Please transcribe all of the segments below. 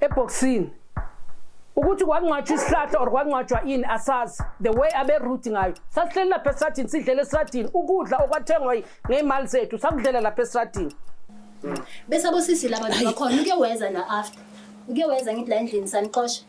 ebhoksini ukuthi kwangcwatshwa isihlahla or kwangcwatshwa ini asazi the way abe root ngayo sasihleli lapha esradini sidlela esradini ukudla okwathengwa ngeymali zethu sakudlela lapha esradini bese abosisi laba bakhona uke weza na after uke weza ngithi la endlini sanixosha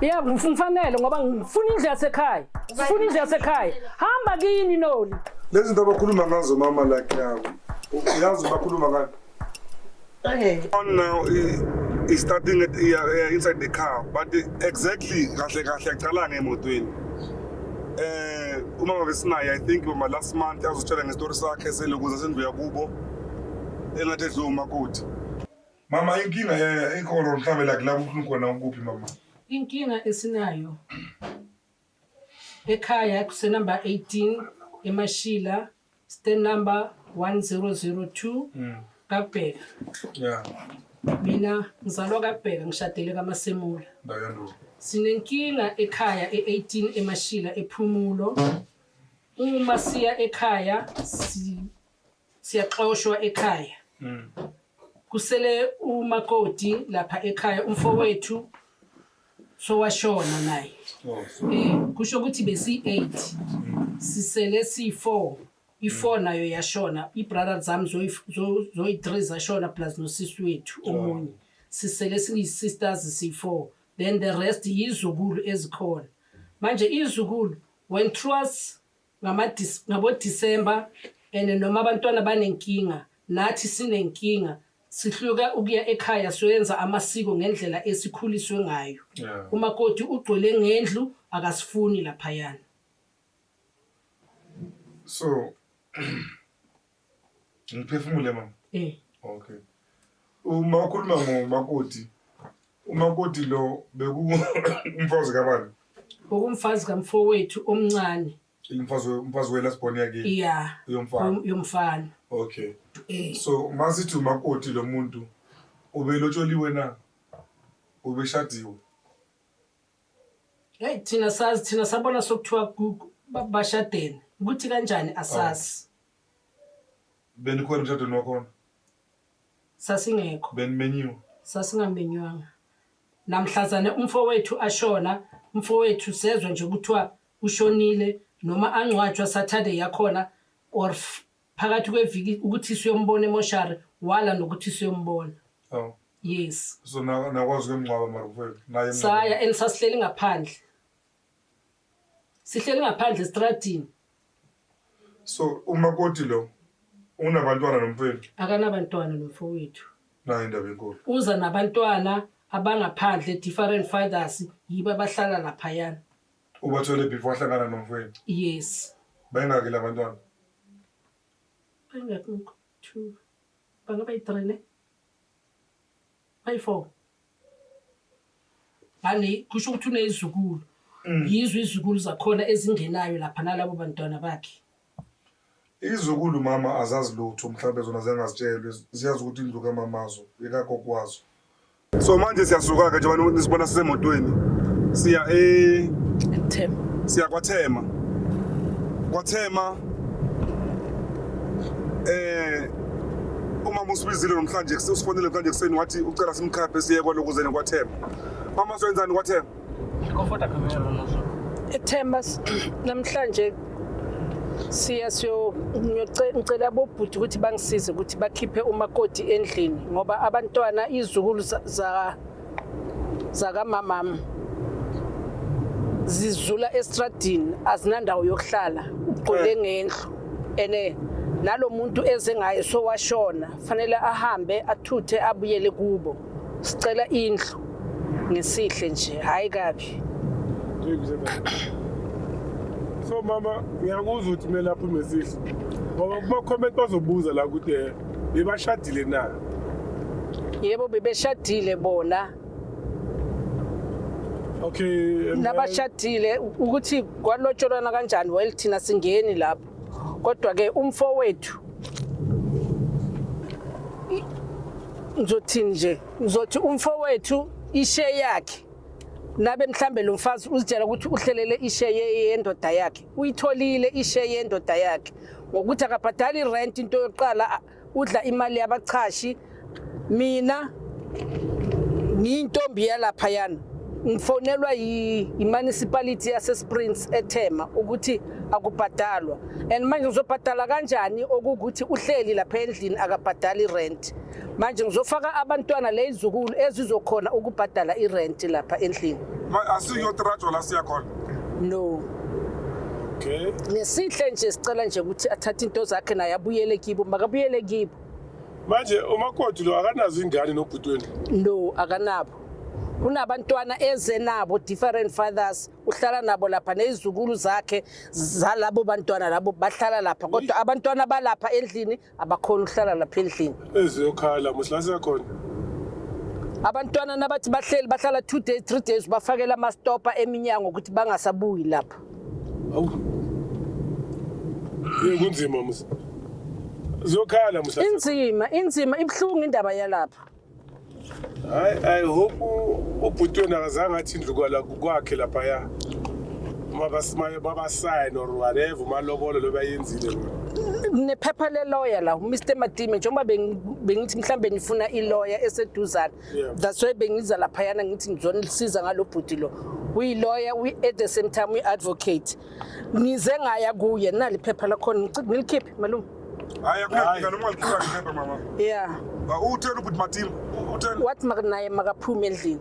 ya ngifanele ngoba ngifuna indlu yasekhaya ngifuna indlu yasekhaya hamba kini noli lezi zinto abakhuluma ngazo mama like yabo uyazi bakhuluma ngani Okay. On now is, is starting at, yeah, yeah, inside the car but exactly kahle kahle yaqala ngemotweni eh umama besinaye i think uma last month azotshela ngestory sakhe selokuza sendlu yakubo engathi edluma kuthi Mama inkinga eh, ikhona uhlabela kulapho ufuna khona ukuphi mama? Inkinga esinayo ekhaya kusenumber 18 eMashila stand number 1002 Mm. kaBheka. Yeah. Mina ngizalwa kaBheka ngishadele kaMasemula. Ndawo yandulo. Sinenkinga ekhaya e18 eMashila ePhumulo. Uma siya ekhaya si siyaxoshwa ekhaya mm. kusele umakoti lapha ekhaya umfowethu sowashona naye oh, eh kusho ukuthi besi 8 mm. sisele si 4 i4 mm. nayo yashona ibrother zami zoyi zoyi 3 zashona plus nosisi wethu oh. omunye sisele siyi sisters si 4 then the rest yizukulu ezikhona manje izukulu when trust ngamadis- ngabodisemba and noma abantwana banenkinga nathi sinenkinga sihluke ukuya ekhaya siyoyenza amasiko ngendlela esikhuliswe ngayo Yeah. umakoti ugcwele ngendlu akasifuni laphayana So Ngiphefumule mama. Eh. Okay. Uma ukhuluma ngomakoti umakoti lo bekumfazi kabani? Ukumfazi kamfowethu omncane. Umfazi umfazi wela sibone yake. Yeah. Yomfana. Yomfana. Okay. Eh. So uma sithi umakoti lo muntu ubelotsholiwe na? Ubeshadiwe. Hey thina sazi thina sabona sokuthiwa bashadene. Ukuthi kanjani asazi. Benikhona emshadweni wakhona? Sasingekho. Benimenyiwe? Sasingamenywanga. Namhlazane umfowethu ashona, umfowethu sezwe nje kuthiwa ushonile noma angcwatshwa Saturday yakhona or f- phakathi kweviki ukuthi siyombona emoshari wala nokuthi siyombona. Oh. Yes. So na- nakwazi ukuyomngcwaba mara mfowethu naye emngcwabeni? Saya and sasihleli ngaphandle. sihleli ngaphandle estradini so umakoti lo unabantwana nomfowethu akanabantwana nomfowethu nayo indaba enkulu uza nabantwana abangaphandle different fathers yibo abahlala laphayana ubathole before ahlangana nomfowethu yes bayingaki labantwana bayingaki two bangaba yi-three ne Bayifo. Bani kusho ukuthi unezizukulu. Mm. Yizwe izizukulu zakhona ezingenayo lapha nalabo bantwana bakhe. Izizukulu mama azazi lutho mhlawumbe zona ziyangazitshelwe ziyazi ukuthi indlu kamamazo yekagogo wazo. So manje siyasuka-ke njengoba nisibona sisemotweni siya e Thema. siya kwathema kwathema eh umama usibizile namhlanje usifonele mhlanje kuseni wathi ucela simkhaphe siye kwaloku zene kwathemba mama soyenzani kwathemba ethemba namhlanje siya siyocela bobhuti ukuthi bangisize ukuthi bakhiphe umakoti endlini ngoba abantwana izukulu za zakamamam zizula estradini azinandawo yokuhlala ugcwele ngendlu ene nalo muntu eze ngaye sowashona fanele ahambe athuthe abuyele kubo sicela indlu ngesihle nje hayi kabi so mama ngiyakuzwa ukuthi kumele aphume sihle ngoba kuma-comment bazobuza la kude bebashadile na yebo bebeshadile bona okay um, nabashadile ukuthi kwalotsholwana kanjani well thina singeni lapho kodwa ke umfo wethu ngizothini nje ngizothi umfo wethu ishe yakhe nabe mhlambe lo mfazi uzitshela ukuthi uhlelele ishe ye- yendoda yakhe uyitholile ishe yendoda yakhe ngokuthi akabhadali rent into yokuqala udla imali yabachashi mina ngiyintombi yalapha yana ngifonelwa yi-municipality yasesprings ethema ukuthi akubhadalwa and manje uzobhadala kanjani okuwukuthi uhleli lapha endlini akabhadali rent manje ngizofaka abantwana le izukulu ezizokhona ukubhadala irenti lapha endlini asiyotrajwa la siyakhona no okay ngesihle nje sicela nje ukuthi athathe into zakhe naye abuyele kibo makabuyele kibo manje umakoti lo akanazo ingane nobhutweni no akanabo kunabantwana eze nabo different fathers uhlala nabo lapha nezizukulu zakhe zalabo bantwana labo bahlala lapha kodwa abantwana balapha endlini abakhona ukuhlala lapha endlini eziyokhala musilasi yakhona abantwana nabathi bahleli bahlala two days three days bafakela amastopa eminyango ukuthi bangasabuyi lapha awu ye kunzima musa ziyokhala musa inzima inzima ibuhlungu indaba yalapha hayi i hope ubhuti wena akazange athi indlu kwala kwakhe laphaya uma basimaye babasayine or whatever umalobolo lo bayenzile kunephepha leloya la umr madime njengoba bengi- bengithi mhlawumbe nifuna iloya eseduzane Yeah. that's why bengiza laphayana ngithi ngizonisiza ngalo bhuti lo uyiloya uyi- at the same time uyi-advocate ngize ngaya kuye nali iphepha lakhona Ngici- ngilikhiphe malume Hayi akuyafika noma ngikhipha ngiphepha mama. Yeah. Ba uthela ukuthi mathini. Uthela. Wathi makanaye makaphume endlini.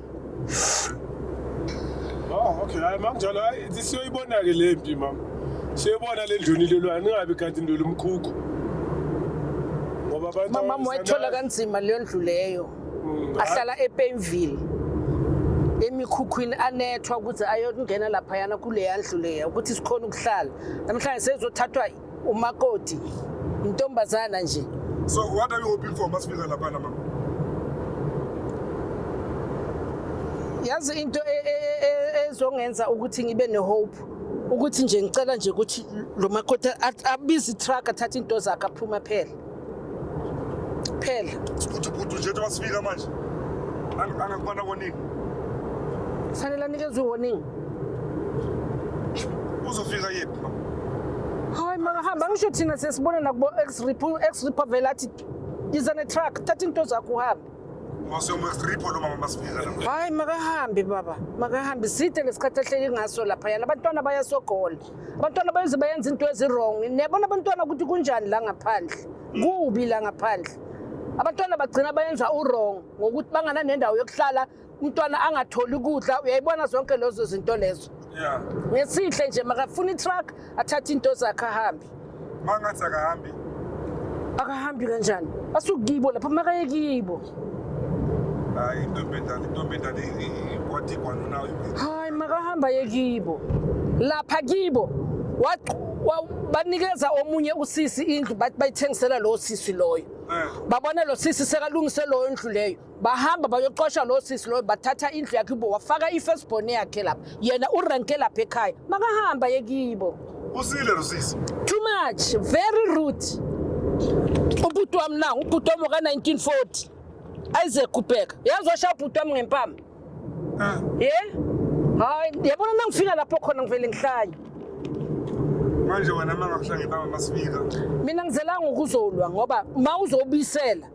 Oh okay hayi makunjalo hayi siyoyibona ke le mpi mama. Siyobona le ndluni lelwa ningabi kanti ndolo umkhukhu. Ngoba abantu Mama wayithola kanzima leyo ndlu leyo. Mm, Ahlala ePainville. emikhukhwini anethwa ukuthi ayokungena laphayana kuleya ndlu leya ukuthi sikhona ukuhlala namhlanje sezothathwa umakoti intombazana nje so what are you hoping for masifika laphana mama yazi into e, e, e, ezongenza ukuthi ngibe nehope ukuthi nje ngicela nje ukuthi lo makoti abize itruck athathe into zakhe aphuma phela Phela. Ukuthi ubhuti nje wasifika manje. Angakubana warning. Sanele anikezwe warning. Uzofika yephi mama? Hayi makahamba ngisho thina sesibona nakubo ex repo ex repo vele athi yiza ne truck thatha into zakho uhambe. hayi makahambe baba makahambe side lesikhathi ahleli ngaso lapha yana abantwana bayasogola abantwana bayoze bayenza into ezirong niyabona abantwana ukuthi kunjani la ngaphandle kubi la ngaphandle abantwana bagcina bayenza urong ngokuthi bangana nendawo yokuhlala umntwana angatholi ukudla uyayibona zonke lezo zinto lezo ngesihle nje makafuna itruck athathe into zakhe ahambe Mangathi akahambi. Akahambi kanjani? Asukibo lapha makaye kibo. Hayi intombi endala, intombi endala kwathi kwanu nayo. Hayi makahamba ye kibo. Lapha kibo. banikeza omunye usisi indlu bathi bayithengisela lo sisi loyo eh. babona lo sisi sekalungise loyo ndlu leyo bahamba bayoqosha lo sisi loyo bathatha indlu yakhe ubo wafaka i-first born yakhe lapha yena urenke lapha ekhaya makahamba yekibo usile lo sisi too much very rude ubhuti wami nangu ubhuti wami waka-1940 isaac kubheka yazi washaya ubhuti wami ngempama ah. ye hayi yabona nangifika lapho khona ngivele ngihlanye manje wena mangakuhla ngempama masifika mina ngizelanga ukuzolwa ngoba ma uzobisela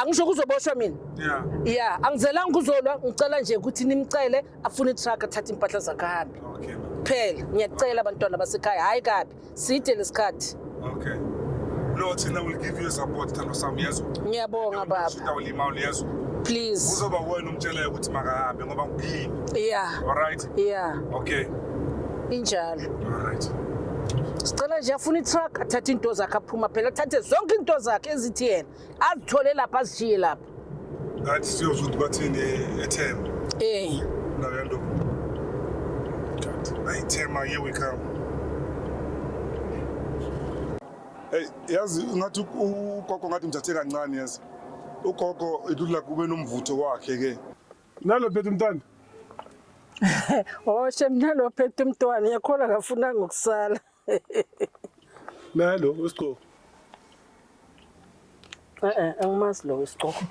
angisho kuzoboshwa mina yeah yeah angizelanga kuzolwa ngicela nje ukuthi nimcele afune itruck athathe impahla zakhe ahambe okay phela ngiyacela abantwana basekhaya hayi kabi side lesikhathi okay no thina will give you support thando sami yazi ngiyabonga baba utawulima uyazi please uzoba wena umtshelayo ukuthi makahambe ngoba ngikini yeah all right ya okay injalo alright sicela nje afuna itruck athathe into zakhe aphuma phela athathe zonke into zakhe ezithi yena azithole lapha azishiye lapha ngathi siyozwa ukuthi bathini ethemba eh nayo yanto ayi thema here we come Hey yazi ngathi ugogo ngathi mthathe kancane yazi ugogo ilula kube nomvutho wakhe ke Nalo phethe umntwana. Oh shem nalo phethe umntwana yakhola ngafuna ngokusala. Nalo usigqoko. Eh eh angimazi lo isigqoko.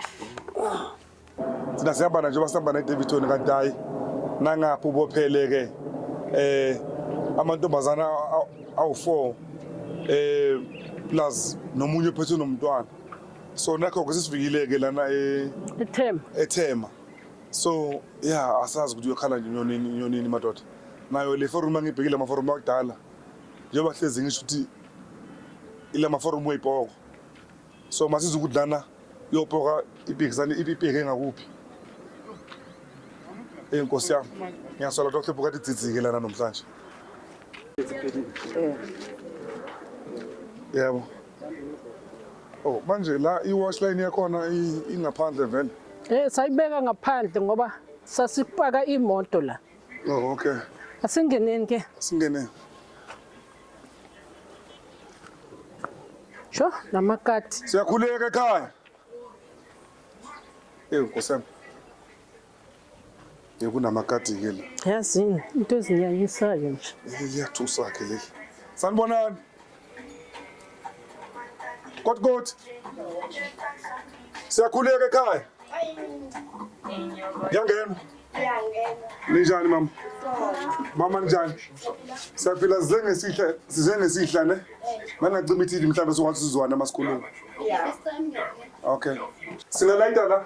Sina sihamba nje basihamba ne Davidson kanti hayi nangapha ubophele ke eh amantombazana awu4 eh plus nomunye ophethe nomntwana so nakho ke sesifikile-ke lana e- ethema ethema so ya asazi ukuthi uyokhala nje inyonini inyonini madoda nayo le forum angibhekile amaforum akudala njengoba hlezi ngisho ukuthi ila maforum weyipoko so masiza ukuthi lana iyopoka ipikisane ipipeke ngakuphi eyi nkosi yami ngiyasola ukuthi wakhlepha ukade idzidzike lana namhlanje yebo Oh manje la i-wash line yakhona ingaphandle vele? Eh sayibeka ngaphandle ngoba sasipaka imoto la. Oh okay. Asingeneni ke? Asingeneni. Sho namakati. Siyakhuleka ekhaya. Ewu nkosana. Kunamagadi ke la. Yazini into ezinyanyisayo nje. Liyathusa ke leli. Sanibonani. Kodwa kodwa. Siyakhuleka ekhaya. Yangena. Ninjani mama? Mama ninjani? Siyaphila size ngesihla size ngesihla ne? Mangacima iTV mhlawumbe sokwazi sizwana masikhuluma. Okay. Singalayita la.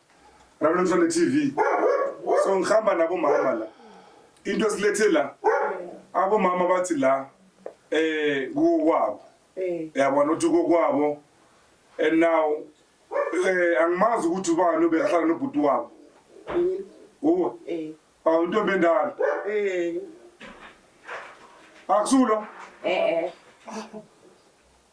Nabantwana TV. So ngihamba nabo mama la. Into esilethe la. Abo mama bathi la eh kukwabo. Eh. Yabona uthi kokwabo and now eh angimazi ukuthi ubani obehlala nobhuti wabo. Mhm. Uwa. Eh. Awu ntombi endala. Eh. Akusulo. Eh eh.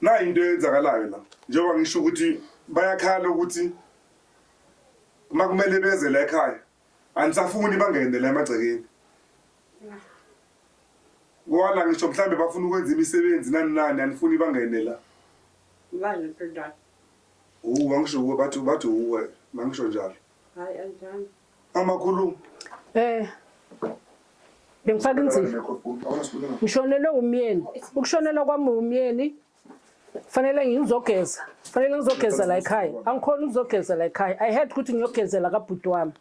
Na into eyenzakalayo la njengoba ngisho ukuthi bayakhala ukuthi uma kumele beze la ekhaya anisafuni bangene la emagcekeni wala ngisho mhlawumbe bafuna ukwenza imisebenzi nani nani anifuni bangene la Ngani phela. uwa ngisho kuwe bathi bathi uwe mangisho njalo Hayi anjani. Mama khuluma. Eh. Bengifaka inzima. Ngishonelwe umyeni. Ukushonelwa kwami umyeni fanele ngizogeza. Fanele ngizogeza la ekhaya. Angikhona ukuzogeza la ekhaya. I had ukuthi ngiyogezela kabhuti wami.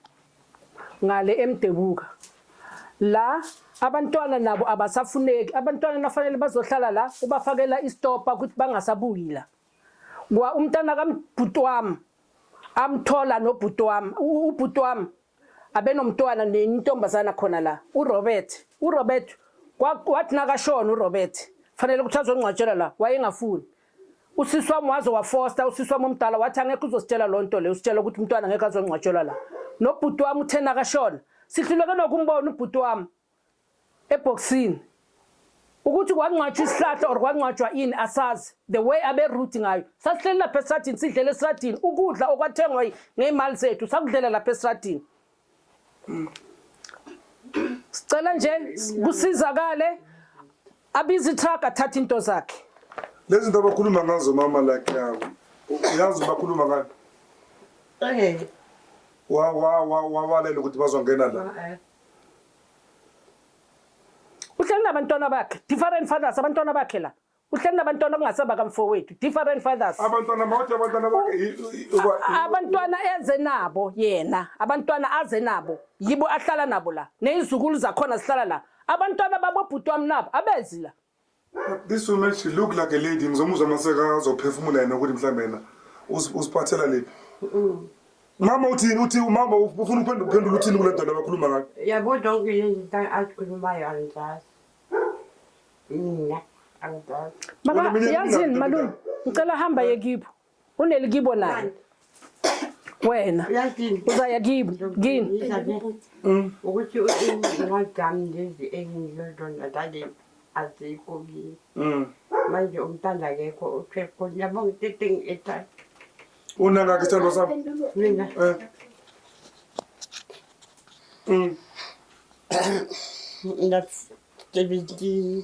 Ngale emdebuka. La abantwana nabo abasafuneki. Abantwana nafanele bazohlala la ubafakela istopa ukuthi bangasabuyi la. kwa umntana kamabhuti wami amthola nobhuti wami ubhuti wami abenomntwana nentombazana khona la urobert urobert wathi nakashona urobert fanele ukuthi azongcwatshela la wayengafuni usisi wami waze wafosta usisi wami omdala wathi angekho uzositshela loo nto le usitshela ukuthi umntwana ngekho azongcwatshelwa la nobhuti wami uthe nakashona sihluleke nokumbona ubhuti wami ebhoksini ukuthi kwangcwatshwa isihlahla or kwangcwatshwa ini asazi the way abe root ngayo sasihleli lapha esradini sidlela esradini ukudla okwathengwa ngeymali zethu sakudlela lapha esradini sicela nje kusizakale abizi truck athatha into zakhe lezi zinto abakhuluma ngazo mama like yawo uyazi bakhuluma ngani okay wa wa wa wawalela ukuthi bazongena la uhleli nabantwana bakhe different fathers abantwana bakhe la uhleli nabantwana okungasaba kamfowethu different fathers abantwana mawuthi abantwana bakhe abantwana eze nabo yena abantwana aze nabo yibo ahlala nabo la nezizukulu zakhona zihlala la abantwana babobhuti wami nabo abezi la This woman she look like a lady ngizomuzwa maseka azophefumula yena ukuthi mhlambe yena usiphathela lephi. Mm. Mama uthini uthi umama ufuna uphendula uphendula uthini kule nto labakhuluma ngayo. Yabo don't you think I could buy your address? Mina. Mama yazini malume ngicela hamba yekipho Uneli kibo naye. Wena. Uzaya kibo. Gini. Mm. Ukuthi uwajami lezi engizodonda dade azikho kimi. Mm. Manje umntana akekho uthe khona yabo ngitething ethatha. Una ngakho isithando sami. Mina. Eh. Mm. That's 17.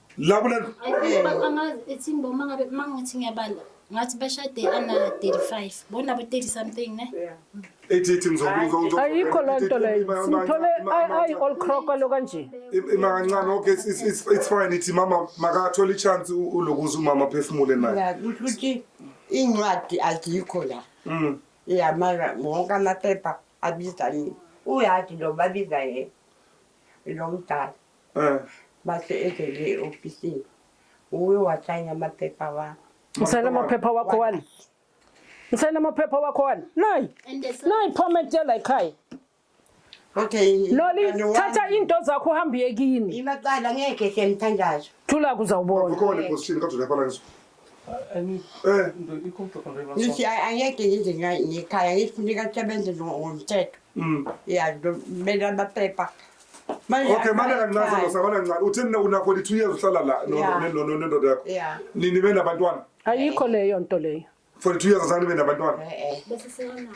Labo la angazi ethi mboma ngabe mangithi ngiyabala ngathi bashade ana 35 bona bo 30 something ne ethi ethi ngizokuzwa ayikho loo nto leyo simthole ayi all crocker lo kanje ima kancane okay it's, it's, it's, it's fine ithi mama makathole ichance ulokuza umama phefumule naye kusho ukuthi incwadi azikho la mm yeah mara wonke amaphepha abiza yini uyazi lo babiza yena lo mdala Mase evele e-ofisini uwe wasayina amaphepha wami. Usayina amaphepha wakho wani? Usayina amaphepha wakho wani? Nayi. Nayi payment yala ekhaya. Okay. Loli thatha into zakho uhambe uye kini. Imaqala ngeke siyamthandaza. Thula kuzawubona. Ukhona epositshini kade lapha la ngisho. Eh, ndo ikho mthokhondwe la. Ngithi angeke ngize ngikhaya ngifuna ikasebenze ngomthetho. Mm. Yeah, ndo mele amaphepha. Okay, manje kancane lo sabana kancane. Uthini una 42 years uhlala la no no no no ndoda yakho. Yeah. Nini bena abantwana? Ayikho leyo nto leyo. 42 years azani bena abantwana. Eh eh. Bese siyona.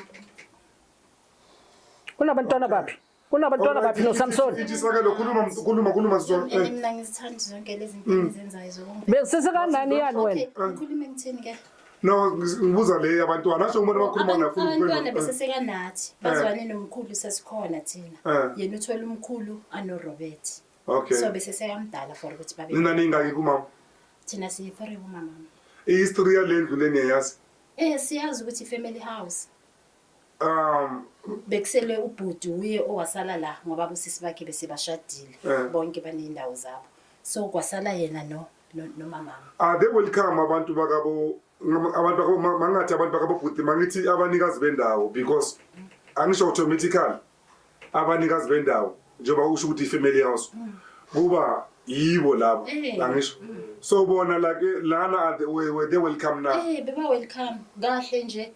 Unabantwana baphi? Unabantwana baphi no Samson? Ijisaka lo khuluma khuluma khuluma sizwa. Mina ngizithanda zonke lezi zinto mm. ezenzayo zokumpela. Besise kanani yani wena? Ukhuluma ngithini ke? No, ngibuza le yabantwana asho umuntu abakhuluma ngakho ukuphendula. Abantwana bese sekanathi eh. bazwane nomkhulu sesikhona thina. Eh. Yena uthola umkhulu ano Robert. Okay. So bese sekamdala for ukuthi babe. Nina ningaki kumama? Thina siyi three kumama. I history yalendlu leni yayazi? Eh siyazi ukuthi family house. Um bekusele ubhuti uye owasala la ngoba usisi bakhe bese bashadile eh. bonke banendawo zabo. So kwasala yena no no- nomamami Ah, they will come abantu bakabo ngam- abantu bakabo ma- mangathi abantu bakabo bhuti mangithi abanikazi bendawo because angisho automatically abanikazi bendawo njengoba usho ukuthi ifamily house kuba yibo labo Eh. angisho so bona like eh, lana are the- where where they will come now Eh beba welcome kahle nje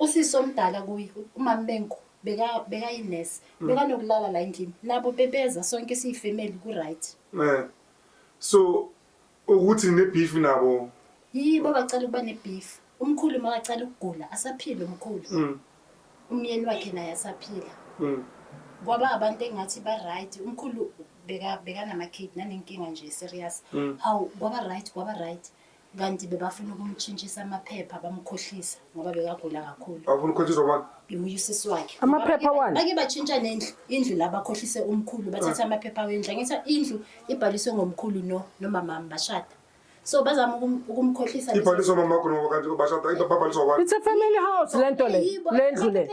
usisi omdala kuye umama bengu beka beka inurse beka nokulala la endlini nabo bebeza sonke siyifamily ku right eh So ukuthi ngine beef nabo. Yibo abacela ukuba ne beef. Umkhulu makacela ukugula asaphila umkhulu. Mm. Umyeni wakhe naye asaphila. Mm. Kwaba abantu engathi ba right umkhulu beka beka nama kid nanenkinga nje serious. Mm. Hawu kwaba right kwaba right. Kanti bebafuna ukumtshintshisa amaphepha bamkhohlisa ngoba bekagula kakhulu. Bafuna ukukhohlisa abantu. Ngimuye usisi wakhe. Amaphepha wani? Bake batshintsha nendlu, indlu la bakhohlise umkhulu bathatha ah. amaphepha wendlu. Angithi indlu ibhaliswe ngomkhulu no nomamami bashada. So bazama ukumkhohlisa. Ibhaliswe mamakho ngoba kanti bashada into babhaliswa abantu. It's a family house lento le. Lendlu le.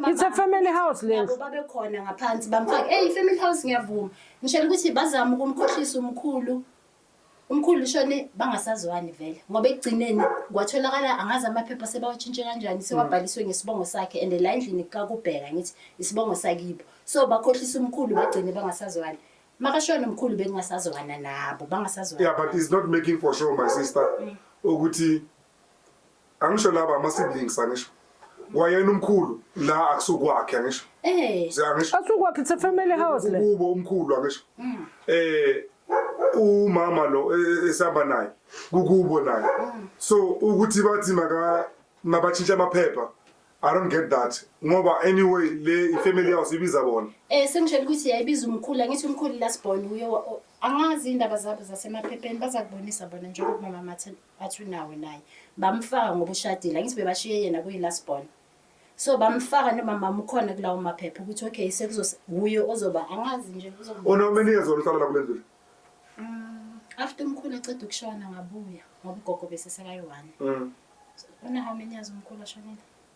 It's a family house lendlu. Nabo babekhona ngaphansi bamfaka. Hey family house ngiyavuma. Ngishela ukuthi bazama ukumkhohlisa umkhulu. Umkhulu ushone bangasazwani vele ngoba ekugcineni kwatholakala angazi amaphepha sebawashintshe kanjani mm. sewabhaliswe ngesibongo sakhe and la endlini kakubheka ngithi isibongo sakibo so bakhohlisa umkhulu bagcine bangasazwani makashona umkhulu bekungasazwana nabo bangasazwana yeah but is not making for sure my sister mm. ukuthi angisho laba ama siblings angisho kwayena umkhulu la akusukwakhe angisho eh siyangisho asukwakhe it's a family house le kubo umkhulu angisho mm. eh umama lo e, e, esihamba naye kukubo naye mm. so ukuthi bathi maka mabatshintsha amaphepha I don't get that ngoba anyway le ifamily house ibiza bona eh sengishela ukuthi yayibiza umkhulu angithi umkhulu last born uyo angazi indaba zabo zasemaphepheni bazakubonisa bona njengoba mama Mathini athi unawo naye bamfaka ngoba ushadile angithi bebashiye yena kuyi-last born so bamfaka nomama ukhona kulawo maphepha ukuthi okay sekuzohuye ozoba angazi nje unomini years oluhlala la kule ndlu mm, after umkhulu eceda ukushona ngabuya ngoba ugogo besesekayi-one mm. una how many years umkhulu ashonile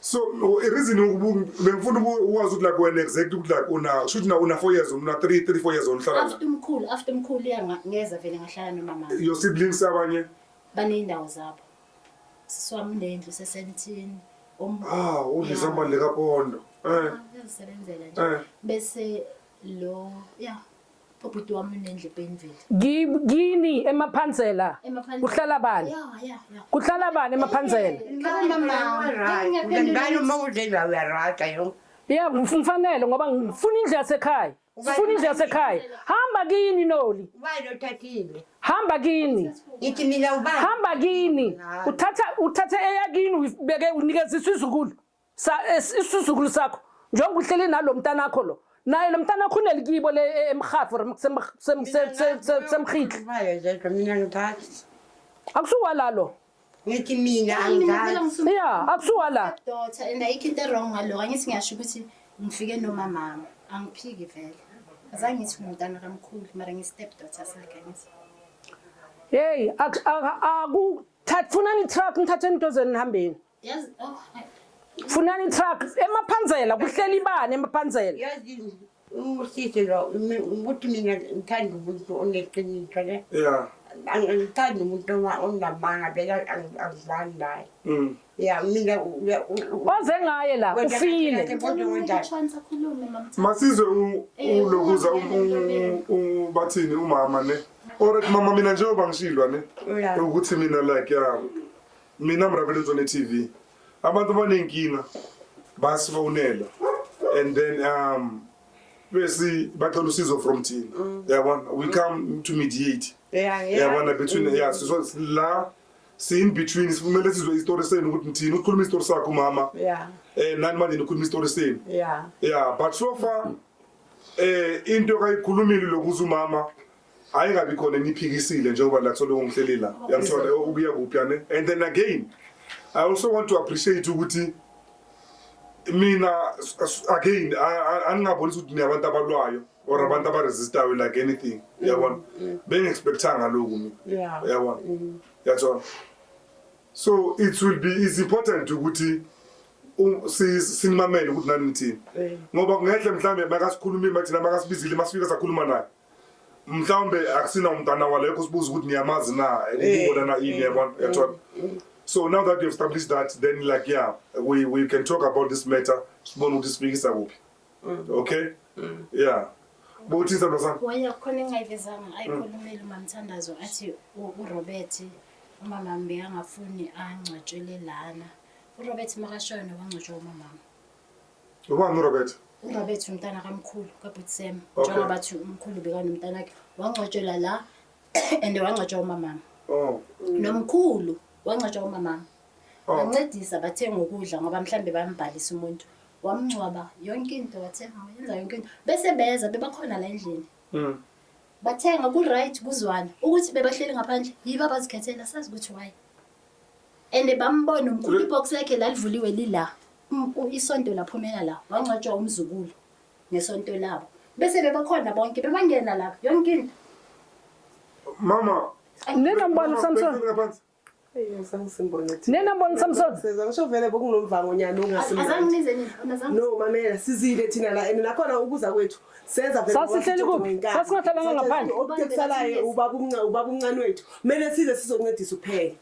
so reason bengifuna ukwazi ukuthi like wena exact ukuthi like una shuthi na una 4 years una 3 3 4 years onhlala after mkhulu after mkhulu iya ngeza vele ngahlala nomama your siblings abanye baneyindawo zabo siswami nendlu sesentini um ah udlisa imali kapondo eh ah, uyazisebenzela nje eh. bese lo yeah Ubhuti wami unendle pain vele. Gi- Kini emaphansela Emaphansela. kuhlala bani? Yeah, yeah, yeah. Kuhlala bani emaphansela? Ngibona mama. Ngani uma udle la uyarata yo. Ya ngif- ngifanele ngoba ngifuna indlu yasekhaya. Sifuna indlu yasekhaya. Hamba kini Noli. Ubani othathile? Hamba kini. Ngithi mina ubani? Hamba kini. Uthatha uthathe eyakini uyibeke unikeziswa izukulu. sa isizukulu sakho njengoba uhleli nalo mntana akho lo naye lo mntana akho unelikibo le e, emhafu or semhitli mina ngithathi akusuwa lalo ngithi mina angithathi ya akusuwa la daughter and ayikho into wrong ngalo angithi ngiyasho ukuthi ngifike nomamama angiphiki vele azange ngithi ngumntana kamkhulu mara ngi-step daughter sakhe ngithi yeyi akuthathi funani itruck nithatheni idozeni nihambeni Yazi oh. Funani truck emaphanzela kuhleli ibani emaphanzela. Yazi umusisi lo ukuthi mina ngithanda umuntu oneqiniso ne. Yeah. Angithanda umuntu onamanga beka angizani naye. Mm. Yeah mina waze ngaye la ufile. Masizwe ulokuza eh, u bathini umama ne. Alright mama mina njengoba ngishilwa ne. Ukuthi mina like yeah. Mina Mrabelezwe ne TV. Abantu banenkinga basifonela and then um besi bacela usizo from thina. Mm. Yabona we come to mediate. Yeah, yeah. Yabona between mm. yeah so la si in between sifumele sizwe istory senu ukuthi ngithini ukhuluma istory sakho mama. Yeah. Eh nani manje nikhuluma istory senu. Yeah. Yeah but so far eh into kayikhulumile lokuza umama ayingabi khona eniphikisile njengoba la kuthola umhleli la yamthola ukuya kuphi ane and then again i also want to appreciate ukuthi mina again aningabonisi ukuthi niyabantu abalwayo or abantu abaresistayo like anything uyabona mm. bengi-expectanga loku mina uyabona mm. yathola so it will be is important ukuthi sinimamele ukuthi nani nithini ngoba kungehle mhlawumbe makasikhulumile mathina makasibizile masifika sakhuluma naye mhlawumbe akusina umntana walekho sibuza ukuthi niyamazi na ukubonana eh, ini eh, yabona eh, yathola so now that you have established that then like yeah we, we can talk about this matter sibone ukuthi sifikisa kuphi mm. okay mm. yeah bokuthini sandwa sami waya khona engayivezanga mm. ayikhulumeli umamthandazo athi urobert umamami bekangafuni angcwatshwele lana urobert makashona wangcwatshwa umamami Ubani uRobert? URobert umntana kamkhulu kabhuti Sam. Okay. Njengoba bathi umkhulu bekanomntana wakhe wangcwatshelwa la and wangcwatshwa umamama. Oh. Nomkhulu wangcwatshwa umamama. Oh. Bancedisa bathenga ukudla ngoba mhlambe bambhalisa umuntu. Wamngcwaba yonke into wathenga yenza yonke into. Bese beza bebakhona la endlini. Mm. Bathenga ku right kuzwana ukuthi bebahleli ngaphandle yiba bazikhethela sazi ukuthi why. and bambona umkhulu ibox lakhe lalivuliwe lila Um- u- isonto laphumela la wangcwatshwa umzukulu ngesonto labo bese bebakhona bonke bebangena lapha yonke into mama Nina mbona uSamson? Bhekani ngaphansi. Eyi, ngizange simbone thina. Nina mbona uSamson? Seza ngisho vele bokunomvangonyana ongasimnandi. azangibize nini Azangi- no mamela sizile thina la and nakhona ukuza kwethu senza vele sasihleli kuphi sasingahlelanga ngaphandle okutekusalayo ubabumnca ubabumncane wethu kumele size sizoncedisa uphele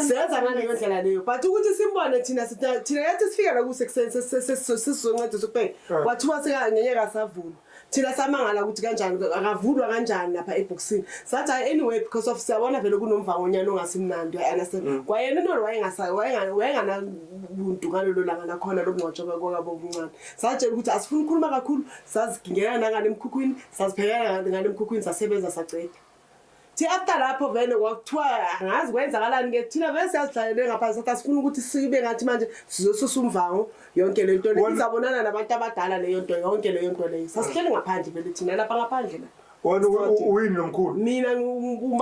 senza ngaleyo ndlela leyo but ukuthi simbone thina thina yathi sifika la kusekuseni sesizoncedisa uphele kwathiwa sekangenye kasavulwa thina samangala ukuthi kanjani akavulwa kanjani lapha ebhokisini sathi hayi anyway because of siyabona vele kunomvangonyana ongasimnandi uyaunderstand mm. kwayena into wayenganabuntu ngalolo langa nakhona lokungcwatshwa kwakabobumncane satshela ukuthi asifuni ukukhuluma kakhulu sazigingela nangane emkhukhwini saziphekela ngane emkhukhwini sasebenza saceda thi after lapho vele kwakuthiwa angazi kwenzakalani ke thina vele siyazidlalele ngaphansi sathi asifuni ukuthi sibe ngathi manje sizosusa umvango yonke le nto leyo izabonana nabantu abadala leyo nto yonke leyo nto leyo sasihleli ngaphandle vele thina lapha ngaphandle la wena uyini nomkhulu mina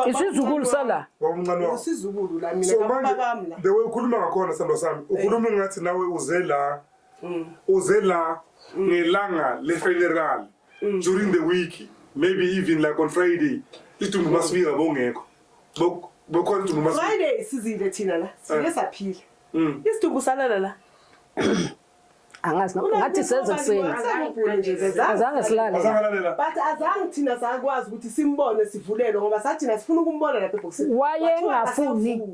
isizukulu sala wawumncane wakho isizukulu la mina so manje the way ukhuluma ngakhona salo sami ukhuluma ngathi nawe uze la mm. uze la mm. ngelanga le-funeral mm. during the week maybe even like on friday idumbu mm. masifika bongekho bokhona idumbu friday sizile thina la sike eh. saphila mm. isidumbu salala la angazi ngathi senze kuseni azange silale but azange thina sakwazi ukuthi simbone sivulelwe ngoba sathina sifuna ukumbona lapha ebhokisini wayengafuni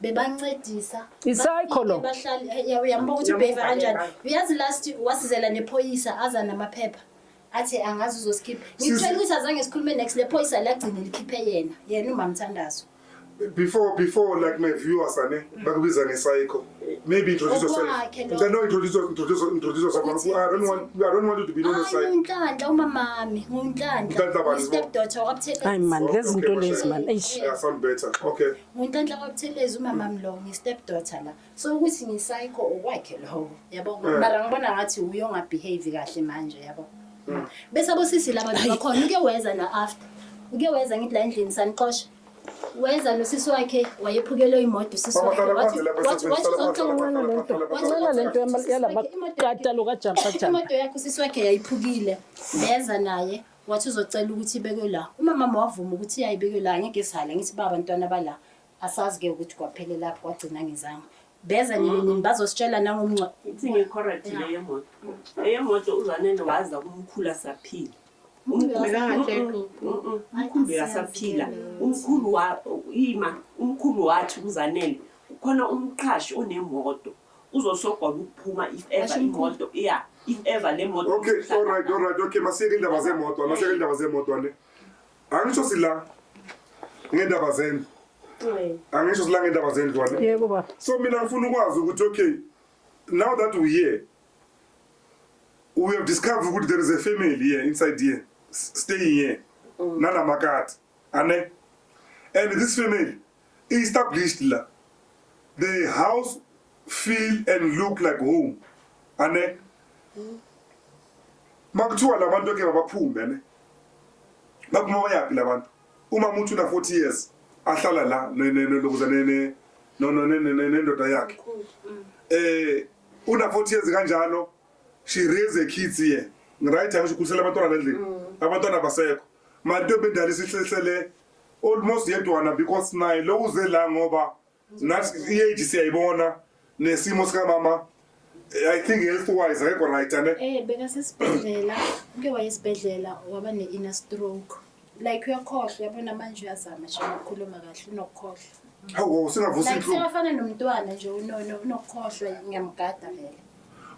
bebancedisa isayikho lo bahlali eh, uyambuka ukuthi ubehave kanjani uyazi last wasizela nephoyisa aza namaphepha athi angazi uzosikhipha ngicela ukuthi azange sikhulume next lephoyisa lagcine likhiphe yena yena umamthandazo before before like my viewers ane bakubiza ngesayikho maybe introduce yourself ngicela no introduce introduce introduce yourself i don't want i don't want you to be known as sayikho nginhlanhla umamami nginhlanhla step daughter wabuthe ay man lezi zinto lezi man eish yeah sound better okay Ngunhlanhla kwaButhelezi umama mlo ngistep daughter la. So ukuthi ngisayikho okwakhe lowo. Yabo Eh. ngoba mara ngibona ngathi uye ongabehave kahle manje yabo. Mm. Bese abosisi laba bakhona uke weza na after. Uke weza ngithi la endlini sanixosha. Weza nosisi wakhe wayephukelwe imoto usisi Mama, wakhe. hlala phansi lapha, Wathi- wathi- sisi, hlala wathi- phansi, hlala phansi, wathi- hlala phansi. Ncela lento yama- yalabaqatalo kajampa jama. imoto yakhe usisi wakhe yayiphukile beza naye Wathi uzocela ukuthi ibekwe la. Uma mama wavuma ukuthi yayibekwe la ngeke sihale ngithi baba ntwana bala asazi ke ukuthi kwaphelele lapho kwagcina ngizange. Beza nini mm-hmm. nini bazositshela nangomncwa. Ithi ngekhorati le yemoto. Eyemoto uzanele waza kumkhulu asaphila. Umkhulu asaphila. Umkhulu wa ima umkhulu wathi kuzanele khona umqhashi onemoto uzosogwa ukuphuma if ever imoto yeah if ever le moto okay all right all right okay masiyeke indaba zemoto masiyeke indaba zemoto ne angisho sila ngendaba zendlu angisho sila ngendaba zendlu ne yebo baba so mina ngifuna ukwazi ukuthi okay now that we here we have discovered ukuthi there is a family here inside here staying here mm. nanamakati ane and this family established la the house feel and look like home ane makuthiwa labantu ke babaphume ne bakuma bayaphi labantu uma umuntu una 40 years ahlala la lokuza ne ne no no ne ne nendoda yakhe eh una 40 years kanjalo she raise a kids here right angisho kukhusela abantwana lendlini mm. abantwana basekho manje into bendala isihlele almost yedwana because naye lo uze la ngoba nathi i-age siyayibona nesimo sikamama i think health wise akekho right ane Eh bekasesibhedlela uke wayesibhedlela waba ne-inner stroke like uyakhohlwa uyabona manje uyazama nje ukukhuluma kahle unokukhohlwa hawu singavusa like inhlungu sekafana nomntwana nje unono unokukhohlwa ngiyamgada vele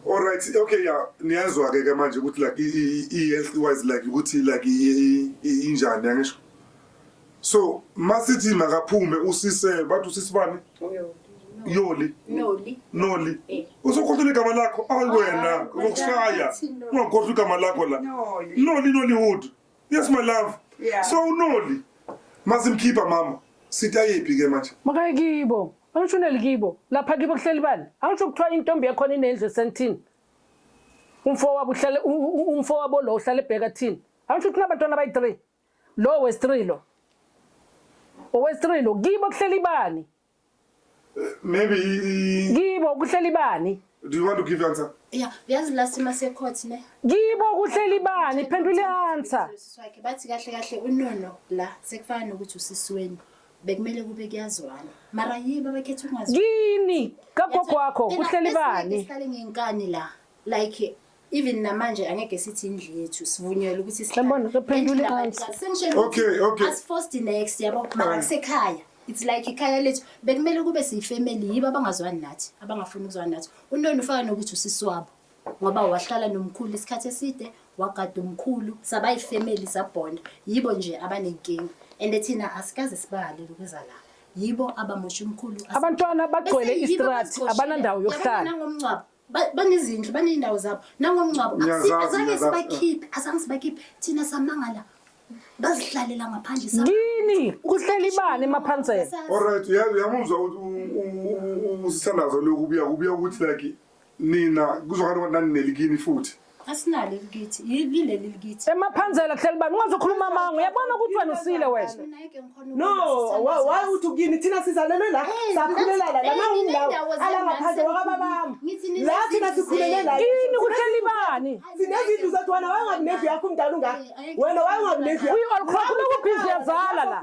Alright, okay ya niyazwa ke ke manje ukuthi like i health wise like ukuthi like injani angisho. So masithi makaphume usise bathi usisibani? Uyo. Yoli. Noli. Noli. Eh. Usukhohlwa igama lakho awena ah, ukushaya. Ungakhohlwa igama lakho la. Noli Nollywood. Yes my love. Yeah. So unoli. Mazimkhipha mama. Sitayephi ke manje? Makaye kibo. Angisho uneli kibo. Lapha kibo kuhleli bani? Angisho kuthiwa intombi yakhona inendlu esentini. Umfo wabo uhlale umfo wabo lo uhlale ebheka thini. Angisho ukuthi nabantwana abayi-3. Lo wes-3 lo. Owes-3 lo kibo kuhleli bani? Maybe Kibo kuhleli bani? Do you want to give answer? Yeah, yazi la sima se court ne. Kibo kuhleli bani? Phendula i-answer. Siswakhe bathi kahle kahle unono la sekufana nokuthi usisiweni. Bekumele kube kuyazwana. Mara yiba bakhetha ungazi. Yini? Kagogo wakho kuhleli bani? Sihlale ngenkani la. Like even namanje angeke sithi indlu yethu sivunyelwe ukuthi Siyabona, kuphendula i-answer. Okay, okay. asiforced next yabo mara Right. kusekhaya it's like ikhaya lethu bekumele kube siyifamily yibo abangazwani nathi abangafuni ukuzwani nathi unoni ufaka nokuthi usisi wabo ngoba wahlala nomkhulu isikhathi eside wagada umkhulu saba yifamily sabonda yibo nje abanenkinga and thina asikaze sibahalele ukuza la yibo abamosha umkhulu Abantwana bagcwele Bese yibo istrati, abasiqoshile. abanandawo Yabona yokuhlala. nangomngcwabo Ba- banezindlu baney'ndawo zabo nangomngcwabo Ngiyazazi, Asi- azange ngiyazazi. sibakhiphe azange sibakhiphe thina samangala bazihlalela ngaphandle sa- yini kuhleli ibani emaphansela Sa- Alright, uya- uyamuzwa ukuthi u- u- u- u- usithandazo lokhu kubuya kubuya ukuthi like nina kuzokhala ukuthi nanineli kini futhi. asinalo elikithi yileli likithi emaphanzela kuhleli bani ungazokhuluma amanga uyabona ukuthi wena usile wena no why uthi kuyini thina sizalelwe la sakhulelala la mawundawo ala ngaphandle wakababami la thina sikhulele la yini kuhleli bani sinezindlu zethu wena wayengakunevi yakho umdala ungaka wena wayengakunevi yakho uyi-olcrock lokubhizi yazala la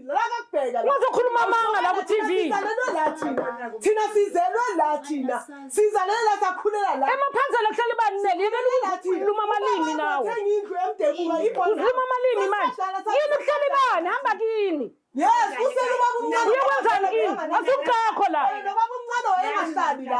Uzokhuluma amanga la ku TV. Thina sizelwe la thina. Sizalele la sakhulela la. Emaphanzela kuhlala ibanele yini luma amalimi nawe. Uziluma amalimi manje. Yini kuhlala ibani hamba kini. Yes, usele ubaba umncane. Uyawenzani ini? Asukakho la. Ubaba umncane wayengahlali la.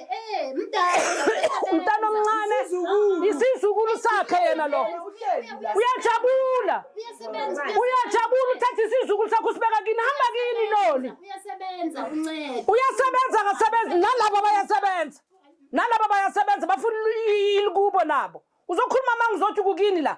umntana omncane isizukulu sakhe yena lo uyajabula uyajabula uthatha isizukulu sakho usibeka kini hamba kini loli uyasebenza akasebenzi nalabo bayasebenza nalabo bayasebenza bafuna ilikubo nabo uzokhuluma uma ngizothi kukini la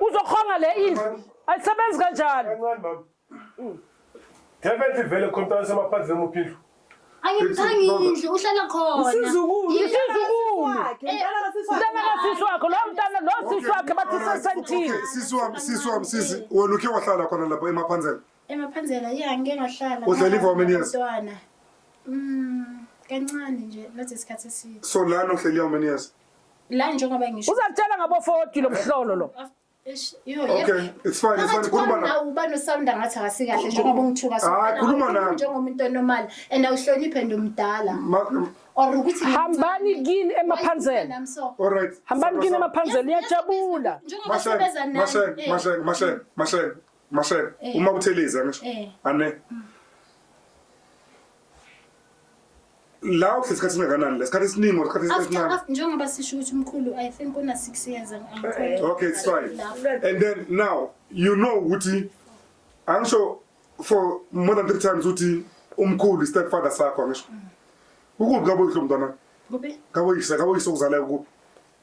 Uzokhonga le indlu. Ayisebenzi kanjalo. Kancane mama. Definitely vele khona samaphansi nemuphi indlu. Ayimthangile indlu uhlala khona. Isizukulu. Isizukulu. Mntana kasisi wakho lo mntana lo sisi wakhe bathi sesentini. Sisi wami, sisi wami, sisi, wena ukhe wahlala khona lapha emaphanzela. Emaphanzela ya ngike ngahlala. Uhlala i-for how many years? Mntwana. Mm, kancane nje not isikhathi eside. So lana uhleli how many years? la njengoba ngisho uzakutshela ngabo 40 lo mhlolo lo Okay, it's fine, it's fine. Khuluma na. Uba no sound angathi akasikahle njengoba ungithuka so. Ah, khuluma na. Njengomuntu normal and awuhloniphe ndomdala. Or ukuthi hambani kini emaphanzeni. All right. Hambani kini emaphanzeni iyajabula. Njengoba sebeza nani. Mashe, eh. mashe, mashe, mm. mashe, mashe. Eh. Uma utheleza ngisho. Eh. Ane. Mm. la uhlezi isikhathi singakanani la isikhathi esiningi or isikhathi After, esincane after, njengoba sisho ukuthi umkhulu I think una six years and I'm quite- okay it's fine and then now you know ukuthi angisho for more than three times ukuthi umkhulu istepfather sakho angisho ukuphi kaboyihlo mntwana Kuphi? kaboyise kaboyise okuzalayo ukuphi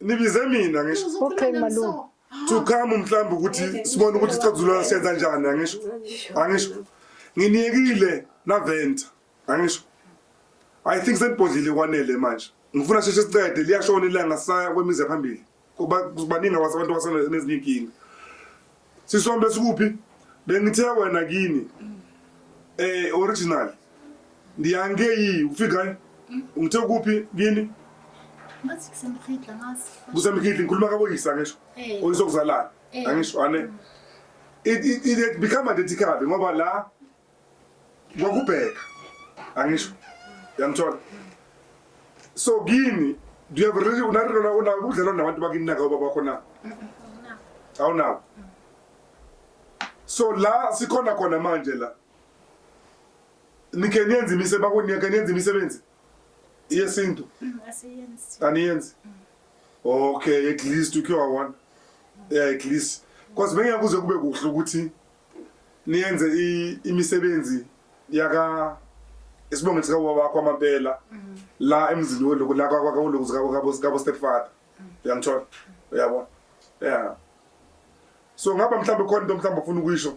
nibize mina ngisho Okay malume. to come mhlawumbe ukuthi sibone ukuthi isixazulula senza njani angisho angisho nginiyekile naventa angisho i think senibhodlile kwanele manje ngifuna sheshe siqede liyashona ilanga saya kwemizi yaphambili kuba kubaningi abase- abantu abasenezinye inkinga Sisombe sikuphi? Bengithe wena kini. Eh original. Ndiyange yi ufika. Ngithe kuphi kini? Ngathi kusemkhidla ngathi. Kusemkhidla ngikhuluma kaboyisa ngisho. Eh. Oyisokuzalana. Eh. Angisho ane. Mm. It it it become identical ngoba la ngokubheka angisho yangithola so kini do you have really unarona una udlala nabantu bakini naka baba bakho na awunawo so la sikhona khona manje la nike niyenza imisebenzi bakunike niyenza imisebenzi yesintu mm, aniyenzi mm. okay at least ukhe wawona yeah at least because bengeke kuze kube kuhle ukuthi niyenze imisebenzi yaka isibongo sika wakho amabela mm. la emzini woloku la kwakho woloku zikabo kabo sikabo stepfather mm. uyangithola uyabona yeah so ngaba mhlawumbe khona into mhlawumbe ufuna ukuyisho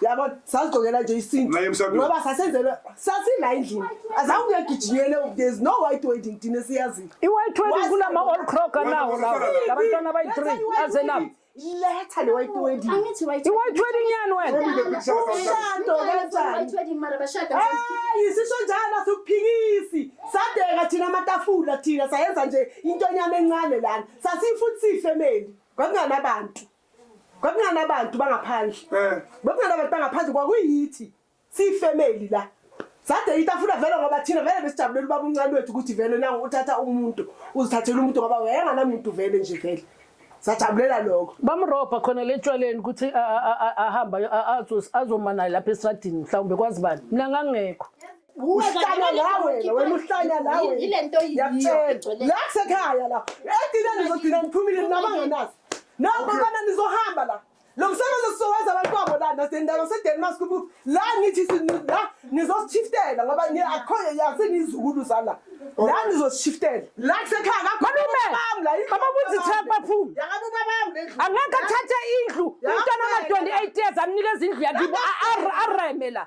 yabo sazigcokela nje isintu ngoba sasenzelwe sasila endlini azange uyagijinyele there's no white wedding thina siyaziyo i-white wedding kunama-all crocker nawo lawo labantwana abayi-three azenabo letha le white wedding angithi white i-white wedding yani wena umshado kanjani hayi sisho njalo asikuphikisi sadeka thina amatafula thina sayenza nje into enyama encane lana sasifuthi sifemeli kwakunganabantu kwakunganabantu bangaphandle eh. kwakunganabantu bangaphandle kwakuyithi siyifemeli la sade itafula vele ngoba thina vele besijabulela ubaba uncane wethu ukuthi vele na uthatha umuntu uzithathela umuntu ngoba wayenganamuntu vele nje vele sajabulela lokho bamrobha khona le tshwaleni ukuthi ahamba azomana lapha esitradini mhlawumbe kwazi bani mina ngangekho uhlanya lawe wena uhlanya lawe yilento yiyona la kusekhaya la edineni uzodina niphumile nabanganazi Nokho Okay. kana nizohamba la. Lo msebenzi sizowenza abantu babo la nasendawo seDenmark kubu. La ngithi si- ni- la nizoshiftela ngoba ni akho yazi nizukulu zala. La nizoshiftela. La kusekhaya kakho. Malume, bami la. baba ukuthi Themba baphume. Yakabe babami lendlu. Angeke athathe indlu. Umntwana ona-28 years amnikeza indlu yakibo. A- a- Areme la.